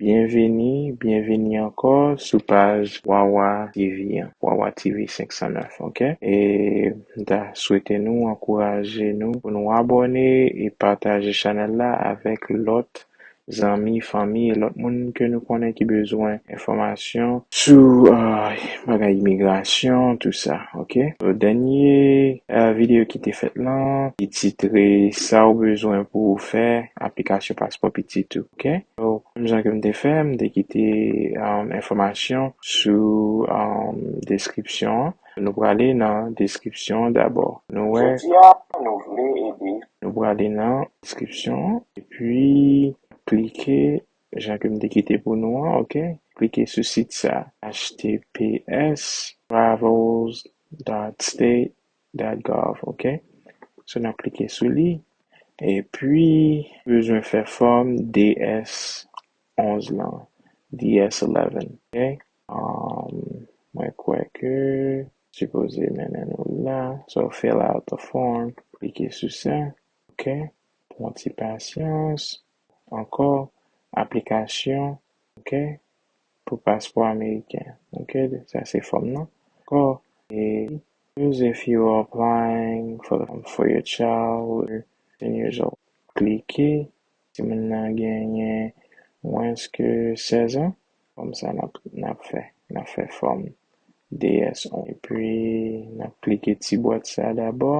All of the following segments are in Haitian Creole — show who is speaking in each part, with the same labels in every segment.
Speaker 1: Byenveni, byenveni ankò sou paj Wawa TV an, Wawa TV 509 ok e m ta swete nou ankouraje nou pou nou abòne e pataje chanèl la avèk lòt zanmi, fanmi e lòt moun ke nou konnen ki bezwen enfòmasyon sou bagay imigrasyon tou sa ok. Dènye videyo ki te fèt lan ki titre sa ou bezwen pou ou fè aplikasyon paspò pitit ou ok. So, m jan ke m te fè, m te kite enfòmasyon sou deskripsyon an. Nou prale nan deskripsyon an dabò. Nou wè. Jodi a, nou vle ede. Nou prale nan deskripsyon an, epi klike jan ke m te kite pou nou an, ok. Klike sou sit sa a, https://travels.state. That gov ok so nap klike sou li epi bezwen fè fòm DS 11 lan DS 11 ok mwen kwè ke sipoze mennen nou la so fill out the form klike sou sa ok pwan ti pasyans ankò aplikasyon ok pou paspò ameriken ok sa se fòm nan ankò e. Use if you are applying for the for your child who is fifteen years old Klike si moun nan genyen mwens ke sèzan Kòm sa n ap n ap fè n ap fè fòm DS-1 epi n ap klike ti bwat sa dabò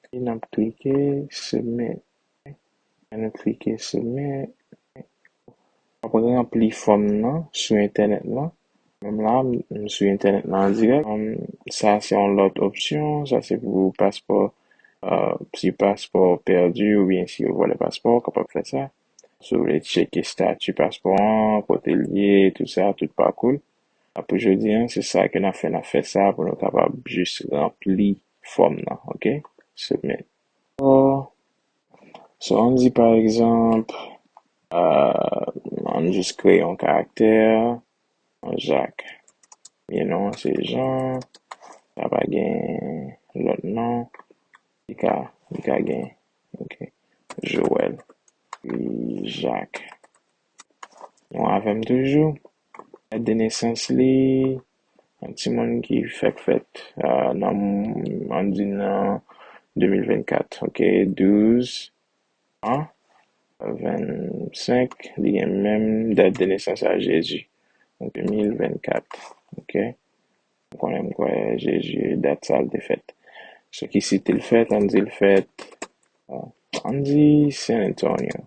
Speaker 1: epi n ap klike Submit Annou klike sou link. Wap ranpli fòm nan sou entènèt lan. Menm la a m sou entènèt lan an dirèk. Sa se yon lòt opsyon. Sa se pou paspò. Si paspò w pèdi oubyen si yo vòlè paspò w, w kapab fè sa. Si w vle tcheke stati paspò an, kote l ye, tout sa, tout pakou l. Pou jodi an, se sa ke n ap fè. N ap fè sa pou nou kapab jis ranpli fòm nan. Ok. Submit. So ann di pa egzanp, ann jis kreye yon karaktè, Jacques. Premye non an se Jean, sa pa gen lòt non, li ka, li ka gen, ok, Joël, Jacques. Nou avè m toujou? Dat de nesans li, yon timoun ki fèk fèt nan, ann di nan 2024, ok, 12 an, 25, li gen menm dat de nesans a Jezi, 2024, ok, m konnen, m kwè Jezi dat sa l te fèt. Sou ki sit li fèt? Ann di l fèt, ann di San Antonio.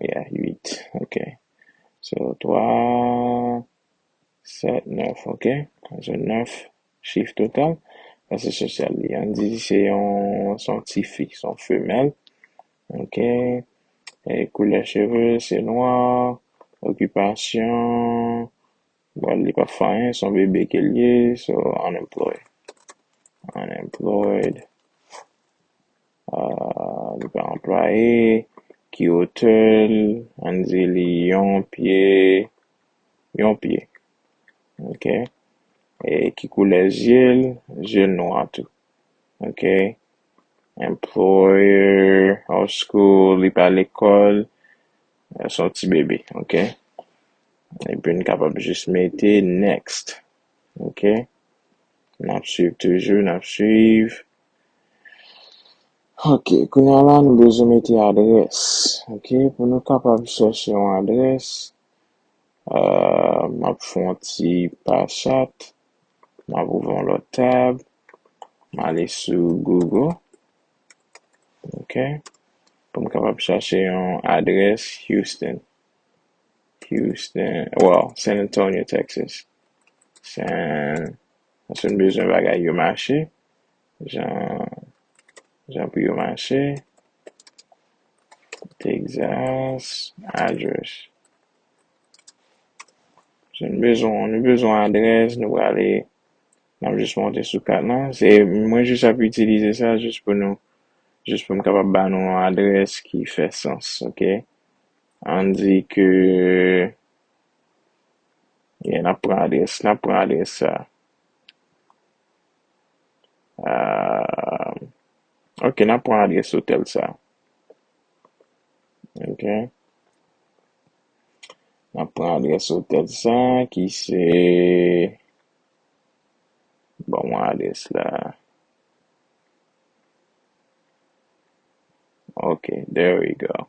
Speaker 1: Yeah 8 ok so 3 7 9 ok so 9 chif total klase sosyal li an di se yon se yon tifi se yon femèl ok koulè cheve se nwa okipasyon bon li pap fè anyen se yon bebe ke l ye so unemployed unemployed Li pa anplwaye, ki otè l, an n di li yon pye, yon pye, ok, e ki koulè zye l, zye l nwa tou, ok, employer of school, li pa lekòl, se yon ti bebe, ok, epi n kapab jis mete next, ok, n ap swiv toujou, n ap swiv. Ok, kounya la nou bezwen mete adrès. Ok, pou nou kapab chèche yon adrès, euh, m ap fè yon ti pa chat, m ap ouvè yon lòt tab, m ale sou Google, ok, pou m kapab chache yon adrès Houston, Houston, well, San Antonio, Texas, San. Paske m bezwen bagay yo mache jan pou yo mache. Texas address. Si nou bezwen yon, nou bezwen yon adrès, nou prale, n ap jis monte sou kat lan. Se mwen jis ap itilize sa jis pou nou, jis pou m kapab ba nou yon adrès ki fè sans, ok. An di ke Yeah, nap pran adrès, nap pran adrès sa. Aah, ok nap pran adrès otèl sa. Ok. Nap pran adrès otèl sa ki se Bon mwen adrès la. Ok, there we go.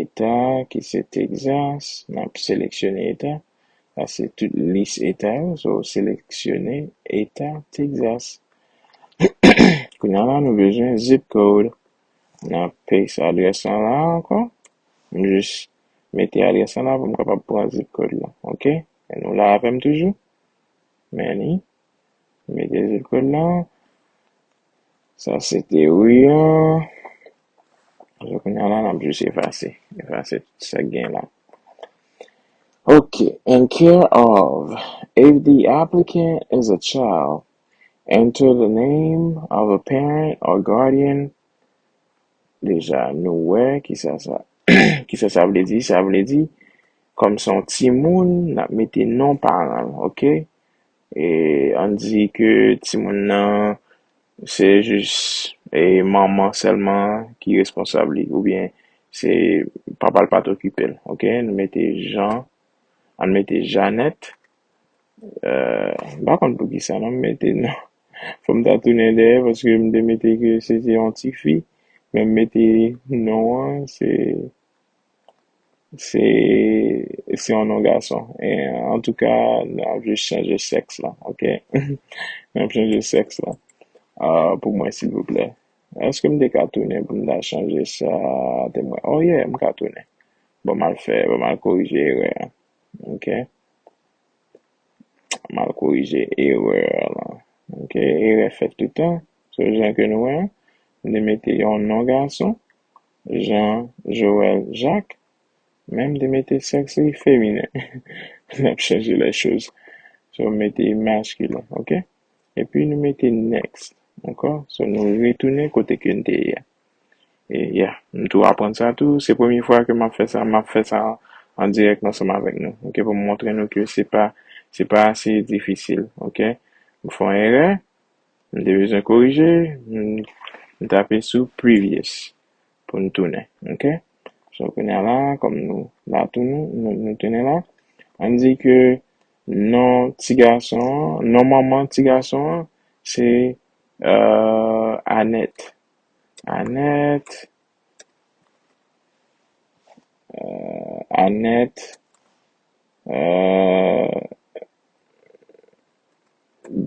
Speaker 1: Eta ki se Texas, nap seleksyone eta, sa se tout lis eta yo, so seleksyone eta Texas. Kounya la nou bezwen zip code, nap paste adrès lan la ankò, m jis mete adrès lan la pou m kapab pran zip code lan, ok, nou la avèm toujou? Many. Mete zip code la. Sa se teori an. Alò kounya la nap jis efase. Efase tout sa gen la. Ok, in care of, if the applicant is a child, enter the name of a parent or guardian Deja nou wè kisa sa kisa sa vle di, sa vle di kòm se yon timoun n ap mete non paran l ok e an n di ke timoun nan se jis e manman sèlman ki responsab li oubyen se papa l pa t okipe l ok nou mete Jan an n mete Janèt. M pa konn poukisa non m mete nan Fò m ta tounen dèyè paske m te mete ke se te yon tifi Men m mete non an se se se yon non gason Antouka n ap jis chanje sèks la ok N ap chanje sèks la pou mwen silvouplè Èske m te ka tounen pou m ta chanje sa Temwen oh yeah m ka tounen Bon m al fè bon m al korije erè an Ok. M al korije erreur lan. Ok. Erè fèt toutan. So jan ke nou wè an, m te mete yon non gason, Jean Joël Jacques, men m te mete sèks li feminen. N ap chanje les choses. So m mete masculin. Ok. Epi nou mete next. Ankò. So nou retounen kote ke n te ye a. Yeah, m tou aprann sa tou. Se premye fwa ke m ap fè sa. M ap fè sa an dirèk ansanm avèk nou, ok, pou m montre nou ke se pa, se pa ase difisil, ok. M fè yon erè, m te bezwen korije, m tape sou previous pou n tounen, ok. So, kounye a la, kòm nou la tou, nou tounen la, an n di ke non ti gason an, non manman ti gason an se Ahh Anèt Anèt Ahh Anèt Ahh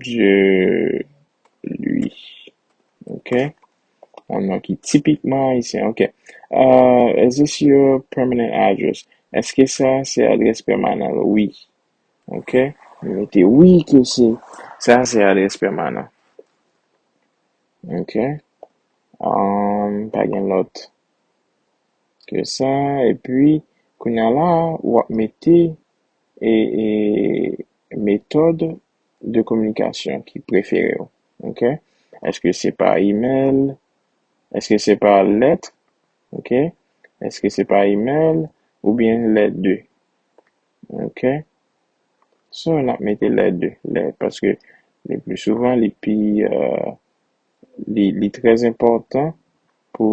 Speaker 1: Dye Lwi Ok Yon non ki tipikman ayisyen ok Ahh Is this your permanent address? Èske sa se adrès pèmanan ou? Wi. Ok m mete wi ke se sa se adrès pèmanan ok amm pa gen lòt ke sa epi kounya la wap mete e e metòd de kominikasyon ki prefere w ok eske se pa email eske se pa lèt ok eske se pa email oubyen lè de ok so nap mete lè 2 lè paske le pli souvan li pi li trè enpòtan pou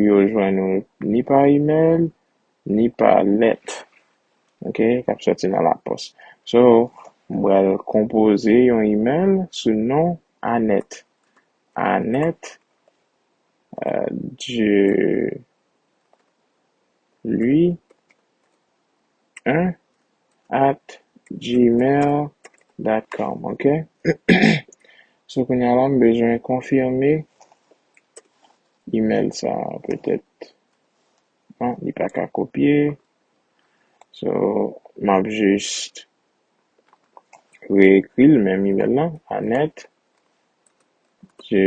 Speaker 1: yo jwenn nou ni pa imèl ni pa lèt ok kap sòti nan lapòs so m pral konpoze yon imèl sou non anèt anèt du Li en at gmail dot com ok sou kounye a la m bezwen konfime email sa petèt an li pa ka kopye so m ap jist reekri l menm email lan anèt je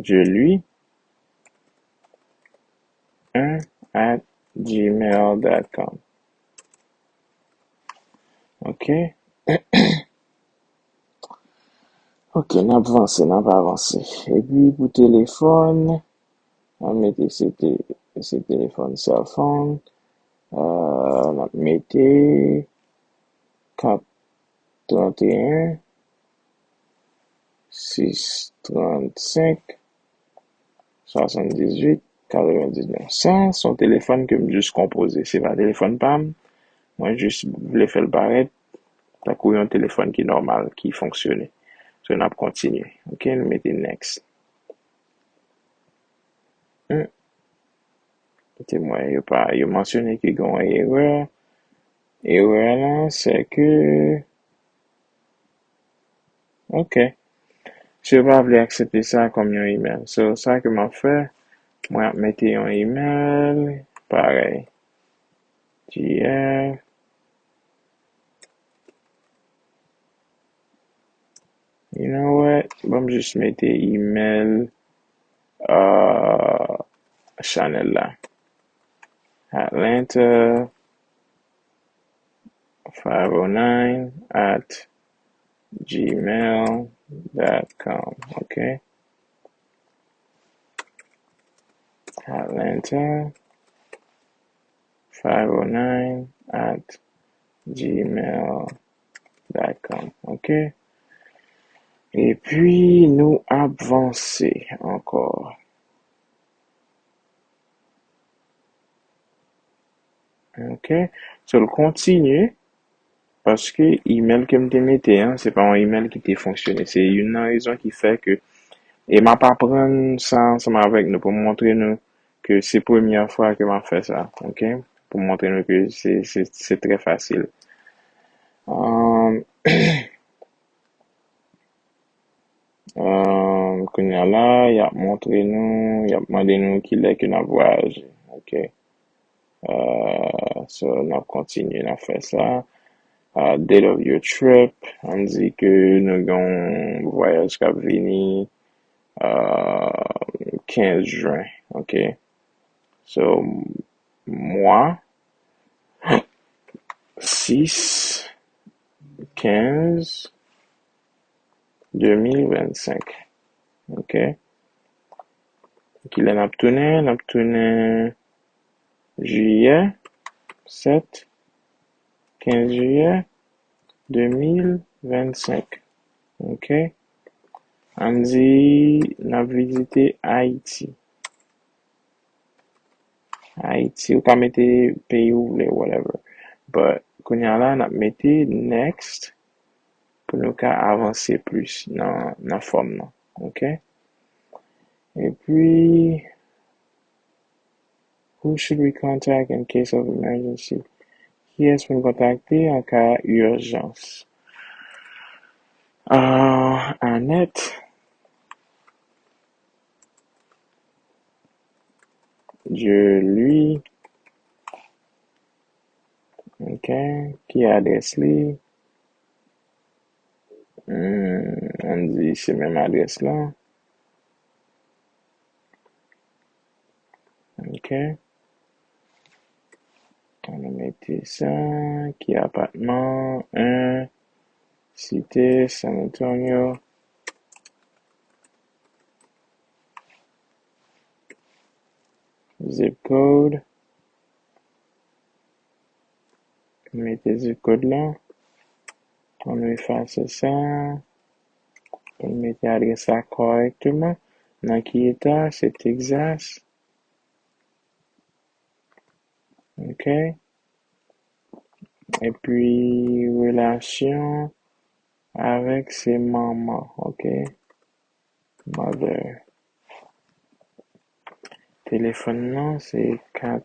Speaker 1: je li. 1 at gmail dot com ok ok nap vanse nap avanse epi pou telefòn an mete se te se telefòn sèlfòn euh nap mete kat 31 6, 35, 78, 99. Sa se yon telefòn ke m jis konpoze. Se pa telefòn pa m. Mwen jis vle fè l parèt tankou yon telefòn ki nòmal, ki fonksyone. So n ap kontinye. Ok, nou mete next. Kote mwen yo pa, yo mansyone ke gen yon erè. Erè lan se ke. Ok. Si yo pa vle aksepte sa kòm yon email. So, sa ke map fè, mwen ap mete yon email parèy. GF. You know what? Banm jis mete email uh, chanèl la. Atlanta. 509 at gmail dot com ok Atlanta 509 at gmail dot com ok epi nou ap vanse ankò. Ok so l kontinye paske email ke m te mete an se pa yon email ki te fonksyone se youn nan rezon ki fè ke e m ap aprann sa ansanm avèk nou pou m montre nou ke se premyè fwa ke m ap fè sa ok pou m montre nou ke se se se trè fasil kounye a la y ap montre nou y ap mande nou kilè ke n ap vwayaje ok. So n ap kontinye n ap fè sa. Date of your trip, an n di ke nou gen yon vwayaj k ap vini 15 jen, ok. So mwa 6, 15, 2025, ok. Kilè n ap tounen? N ap tounen jiyè, 7, 15 jiyè 2025. Ok. Ann di n ap vizite Ayiti. Ayiti, ou ka mete peyi ou vle, whatever. But, kounye a la, n ap mete next pou nou ka avanse plis nan fòm nan. Ok epi Who should we contact in case of emergency? Kiyès pou n kontakte an ka ijans? Anèt Je lui Ok Ki adrès li? Humm on di se menm adrès la ok an nou mete sa ki apatman an site San Antonio zip code. Nou mete zip kòd la, pou nou efase sa, pou nou mete adrès la kòrèkteman, nan ki eta, se Texas, ok, epi relasyon avèk se manman, ok, mother, telefòn nan se 4.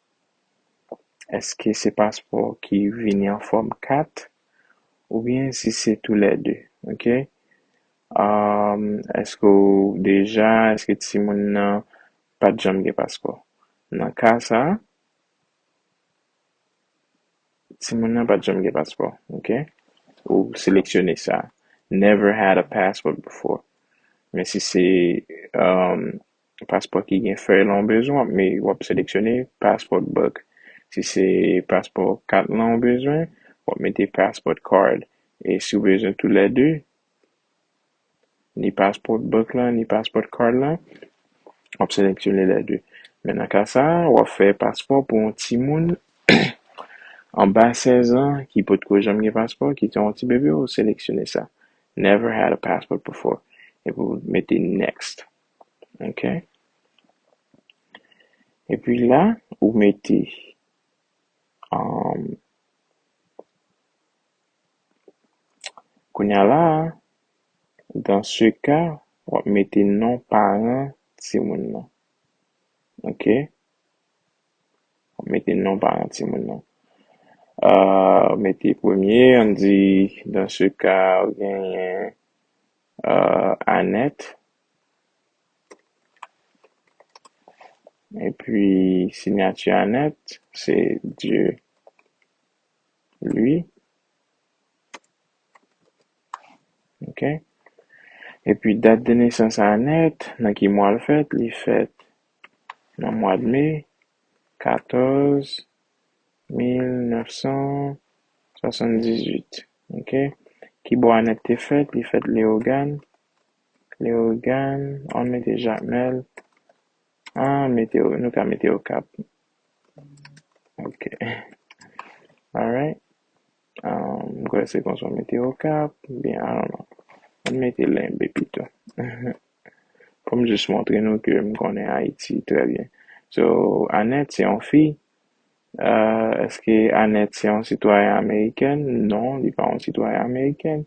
Speaker 1: Eske se paspò ki vini an fòm kat ou byen si se tou lè 2 ok eske ou deja eske ti moun nan pat janm gen paspò nan ka sa ti moun nan pat janm gen paspò ok ou seleksyone sa never had a passport before men si se Paspò ki gen fèy lan w bezwen w ap me w ap seleksyone passport book. Si se paspò kat lan w bezwen, w ap mete passport card. E si w bezwen tou lè 2, ni passport book lan ni passport card lan, w ap seleksyone lè 2. Men nan ka sa a, w ap fè paspò pou yon timoun anba 16 an ki potko janm gen paspò, ki se yon ti bebe, w seleksyone sa, Never had a passport before, epi w mete next. ok epi la ou mete um, kounya la dans ce cas wap mete non paran timoun nan ok wap mete non paran timoun nan uh mete premye an di dans ce cas ou genyen Anèt epi sinyati Anèt se Dye Lwi ok epi dat de nesans Anèt nan ki mwa l fèt li fèt nan mwad me 14 1978. Ok kibò Anèt te fèt li fèt Leogàn Leogàn ann mete Jamèl ann mete nou ka mete Okap ok alright m kwè se konsa w mete Okap oubyen I don't know ann mete Lenbe pito pou m jis montre nou ke m konnen Ayiti trè byen so Anèt se yon fi Eske Annette se yon sitwayen amerikèn? Non, li pa yon sitwayen amerikèn.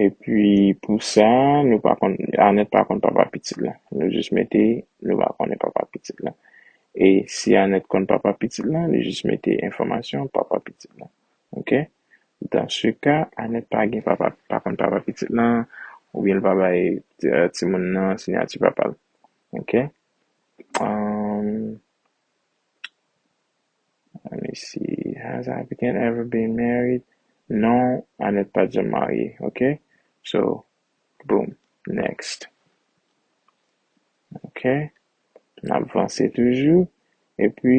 Speaker 1: Epi pou sa, nou pa konn, Annette pa konn papa pitit la. Nou jis mete nou pa konnen papa pitit la. E si Annette konn papa pitit la, nou jis mete enfòmasyon papa pitit la. ok dans ce cas Anèt pa gen papa pa konn papa pitit lan oubyen li pa bay timoun nan siyati papa l ok let me see has the applicant ever been married non Anèt pat janm marye ok so boom next ok nap vanse toujou epi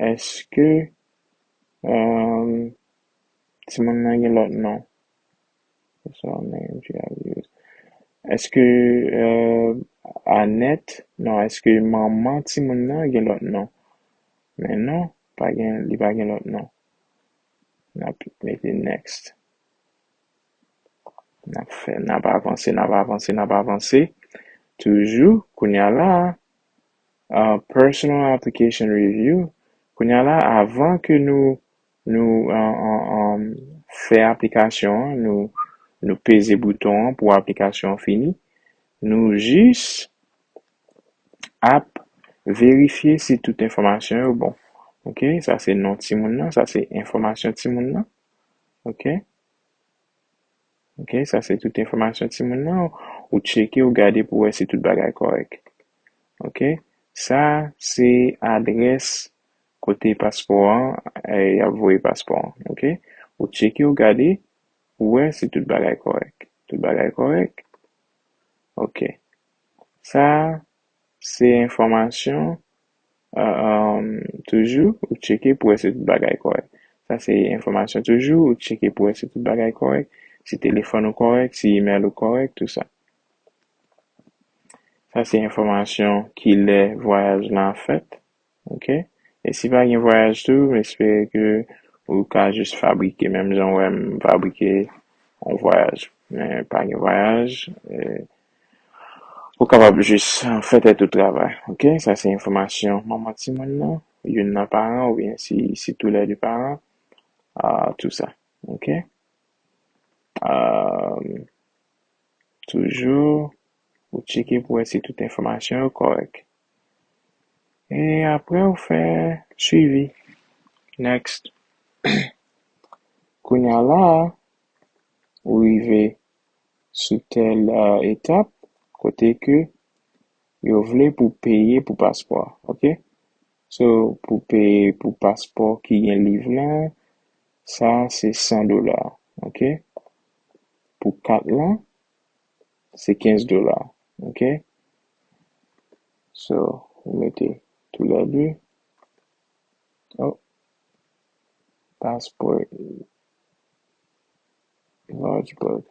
Speaker 1: Eske timoun nan gen lòt non? Eske Anèt, non eske manman timoun nan gen lòt non? Men non, li pa gen lòt non. N ap mete next. N ap fè, n ap avanse, n ap avanse, n ap avanse toujou. Kounye a la a. personal application review kounya la avan ke nou nou fè aplikasyon an nou nou peze bouton an pou aplikasyon an fini nou jis ap verifye si tout enfòmasyon yo bon ok sa se non timoun nan sa se enfòmasyon timoun nan ok. Ok sa se tout enfòmasyon timoun nan ou tcheke ou gade pou wè si tout bagay kòrèk ok sa se adrès kote paspò an yap voye paspò an ok ou tcheke ou gade pou wè si tout bagay kòrèk tout bagay kòrèk ok sa se enfòmasyon Toujou ou tcheke pou wè si tout bagay kòrèk. Sa se enfòmasyon toujou ou tcheke pou wè si tout bagay kòrèk, si telefòn ou kòrèk, si imèl ou kòrèk, tout sa. Sa se enfòmasyon ki lè vwayaj lan ap fèt, ok. E si pa gen vwayaj tou, m espere ke ou ka jis fabrike menm jan ou wè m fabrike yon vwayaj. Men pa gen vwayaj. Ou kapab jis fè tèt ou travay, ok? Sa se enfòmasyon manman timoun nan, youn nan paran oubyen si se tou lè de paran, tou sa, ok? Toujou ou tcheke pou wè si tout enfòmasyon yo kòrèk. E apre ou fè swivi, next. Kounya la a, ou rive sou tèl etap kote ke yo vle pou peye pou paspò a ok so pou peye pou paspò ki gen liv lan sa se 100 dola ok pou kat lan se 15 dola ok so ou mete tou lè 2 oh paspò. Large book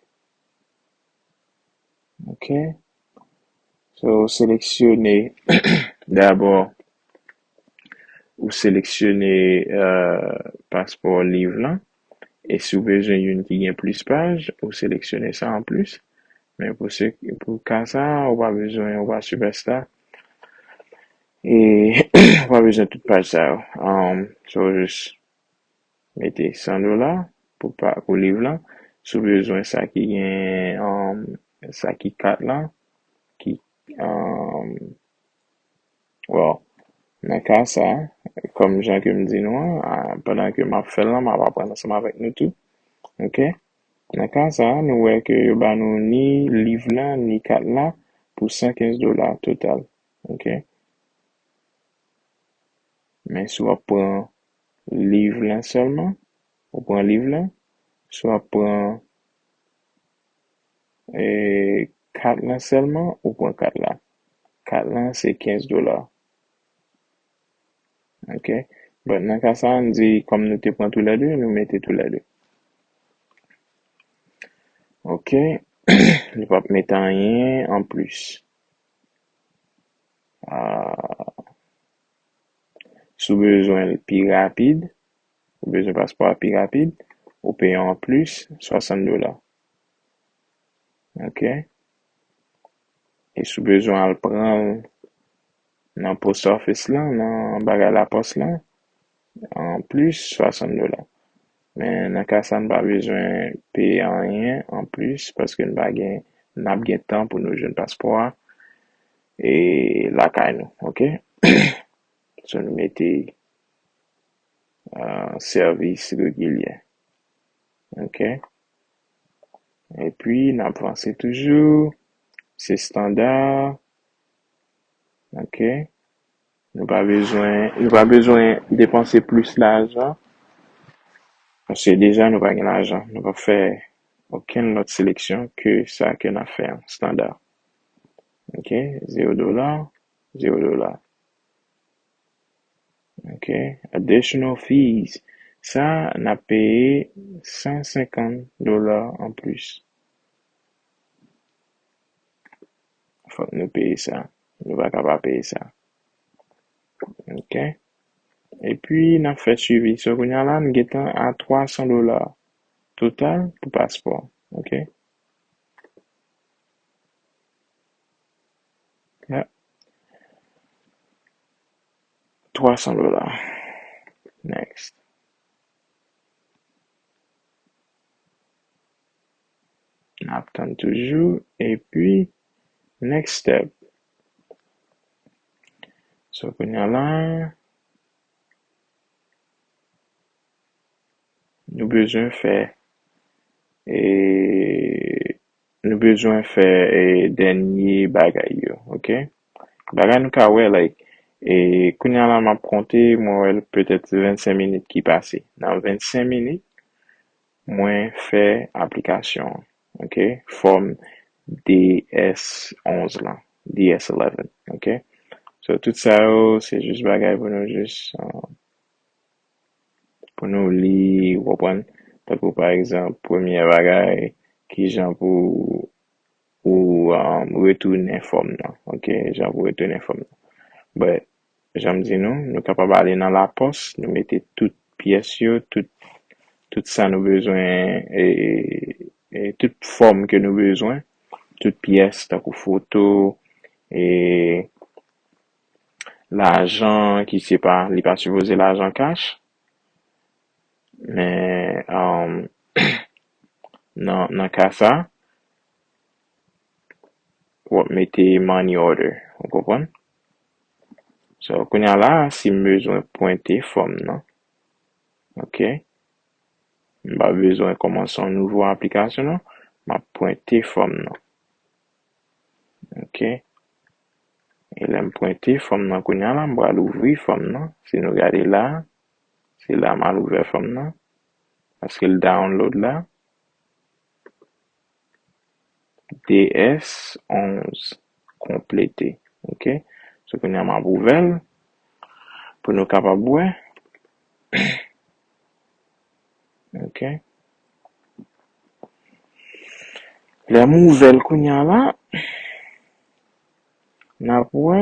Speaker 1: Ok So ou seleksyone Dabò Ou seleksyone Paspò liv lan E si ou bezwen youn ki gen plis paj Ou seleksyone sa an plis Men pou se Pou ka sa a ou pa bezwen Ou pa sipèsta E Ou pa bezwen tout paj sa yo So ou jis Mete 100 dola pou pakou liv lan. Si w bezwen sa ki gen sa ki kat lan ki Well nan ka sa kòm jan ke m di nou an pandan ke m ap fè l lan m ap aprann ansanm avèk nou tou ok. Nan ka sa nou wè ke yo ba nou ni liv la ni kat la pou 115 dola total ok. Men si w ap pran. liv lan sèlman, ou pran liv lan, swa pran kat lan sèlman, ou pran kat la. Kat lan se 15 dola. Ok, but nan ka sa an di kòm nou te pran tou lè 2, nou mete tou lè 2. Ok, li p ap mete anyen anplis. Si w bezwen l pi rapid, ou bezwen paspò a pi rapid, ou peye yon anplis 60 dola. Ok. E si w bezwen al pran l nan post office lan, nan bagay lapòs lan, anplis 60 dola. Men nan ka sa n pa bezwen peye anyen anplis paske n pa gen n ap gen tan pou nou jwenn paspò a e lakay nou ok sou nou mete sèvis regilyè ok epi n ap vanse toujou se standa ok. Nou pa bezwen nou pa bezwen depanse plis lajan paske deja nou pa gen lajan. Nou p ap fè okenn lòt seleksyon ke sa ke n ap fè an, standa. Ok, zewo dola, zewo dola. Ok, additional fees, sa a n ap peye 150 dola anplis. fòk nou peye sa, nou pa ka pa peye sa ok epi nap fè swivi so kounya la nou gentan a 300 dola total pou paspò ok yap 300 dola next. Nap tann toujou epi next step. So kounya la nou bezwen fè e nou bezwen fè e dènye bagay yo ok. Bagay nou ka wè like e kounya la map konte mwen wè petèt se 25 minit ki pase nan 25 minit Mwen fè aplikasyon ok fòm DS 11 lan DS 11 ok so tout sa yo se jis bagay pou nou jis pou nou li ou konprann tankou pa egzanp premyè bagay kijan pou ou retounen fòm nan ok jan pou retounen fòm nan but Jan m di nou, nou kapab ale nan lapòs, nou mete tout pyès yo, tout, tout sa nou bezwen, e, e tout fòm ke nou bezwen, tout pyès tankou foto, e lajan ki se pa, li pa sipoze lajan kach, men, anm, nan, nan ka sa, w ap mete money order, ou konprann? So kounye a la a si m bezwen pwente fòm nan ok m pa bezwen kòmanse yon nouvo aplikasyon non m ap pwente fòm nan ok e lè m pwente fòm nan kounye a la m pral ouvri fòm nan si nou gade la a se la m al ouvè fòm nan paske l dawonlod la. DS 11 konplete ok so kounya map ouvèl pou nou kapab wè ok lèm ouvèl kounya la nap wè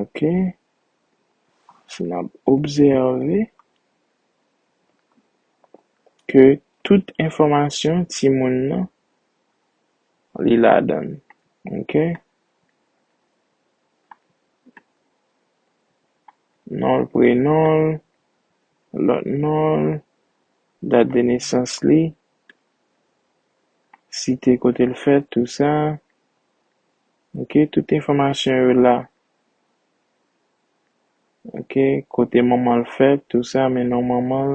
Speaker 1: Ok si nap obsève ke tout enfòmasyon timoun nan li ladann ok non l prenon l lòt non l dat de nesans li site kote l fèt tou sa. Ok tout enfòmasyon yo la ok kote manmanl fèt tou sa men non manmanl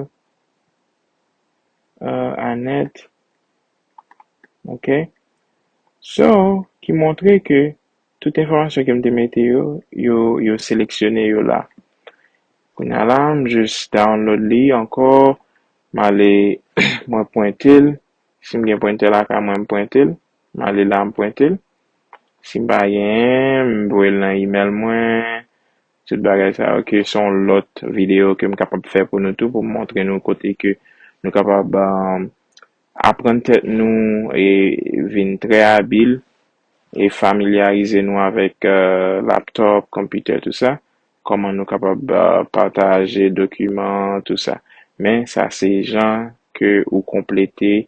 Speaker 1: euh Anèt ok so ki montre ke tout enfòmasyon kem te mete yo yo yo seleksyone yo la kounya la m jis download li ankò male mwen pwentel Si m gen prentè lakay mwen, m prente l. M ale la, m prente l. Si m pa genyen, m voye l nan imèl mwen. Tout bagay sa yo ke se yon lòt videyo ke m kapab fè pou nou tou pou m montre nou kote ke nou kapab aprann tèt nou e vin trè abil e familyarize nou avèk laptòp, konpitè, tou sa. kòman nou kapab pataje dokiman an tou sa men sa se jan ke ou konplete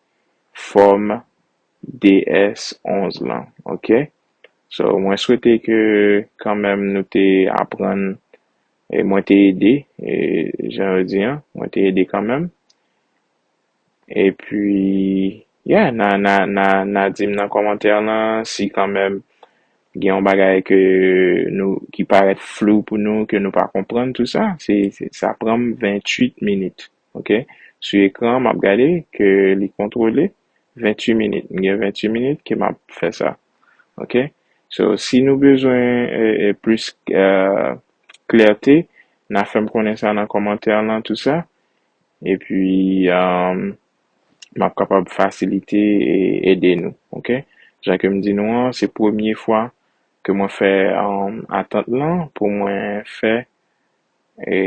Speaker 1: fòm DS 11 lan ok so mwen swete ke kanmenm nou te aprann e mwen te ede jan yo di an mwen te ede kanmenm. Epi yeah na na na na dim nan kòmantè lan si kanmèm gen yon bagay ke nou ki parèt flou pou nou ke nou pa konprann tou sa se sa pranm 28 minit ok sou ekran map gade ke li kontwole 28 minit m gen 28 minit ke map fè sa ok so si nou bezwen plis klète na fèm konnen sa nan kòmantè lan tou sa epi m ap kapab fasilite e ede nou ok. Jan ke m di nou an se premye fwa ke mwen fè atant lan pou mwen fè e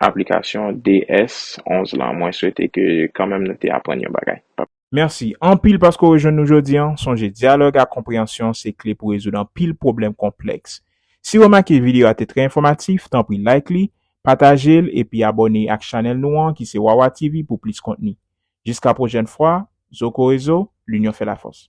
Speaker 1: aplikasyon DS 11 lan mwen swete ke kanmenm nou te aprann yon bagay. Mèsi anpil
Speaker 2: paske w rejwenn nou jodi an. Sonje dyalòg ak konpreyansyon se kle pou rezoud anpil pwoblèm konplèks. Si w remake videyo a te trè enfòmatif, tanpri like li, pataje l epi abòne ak chanèl nou an ki se Wawa TV pou plis kontni. Jiska pwojèn fwa, Zokorezo, Linyon fè lafòs.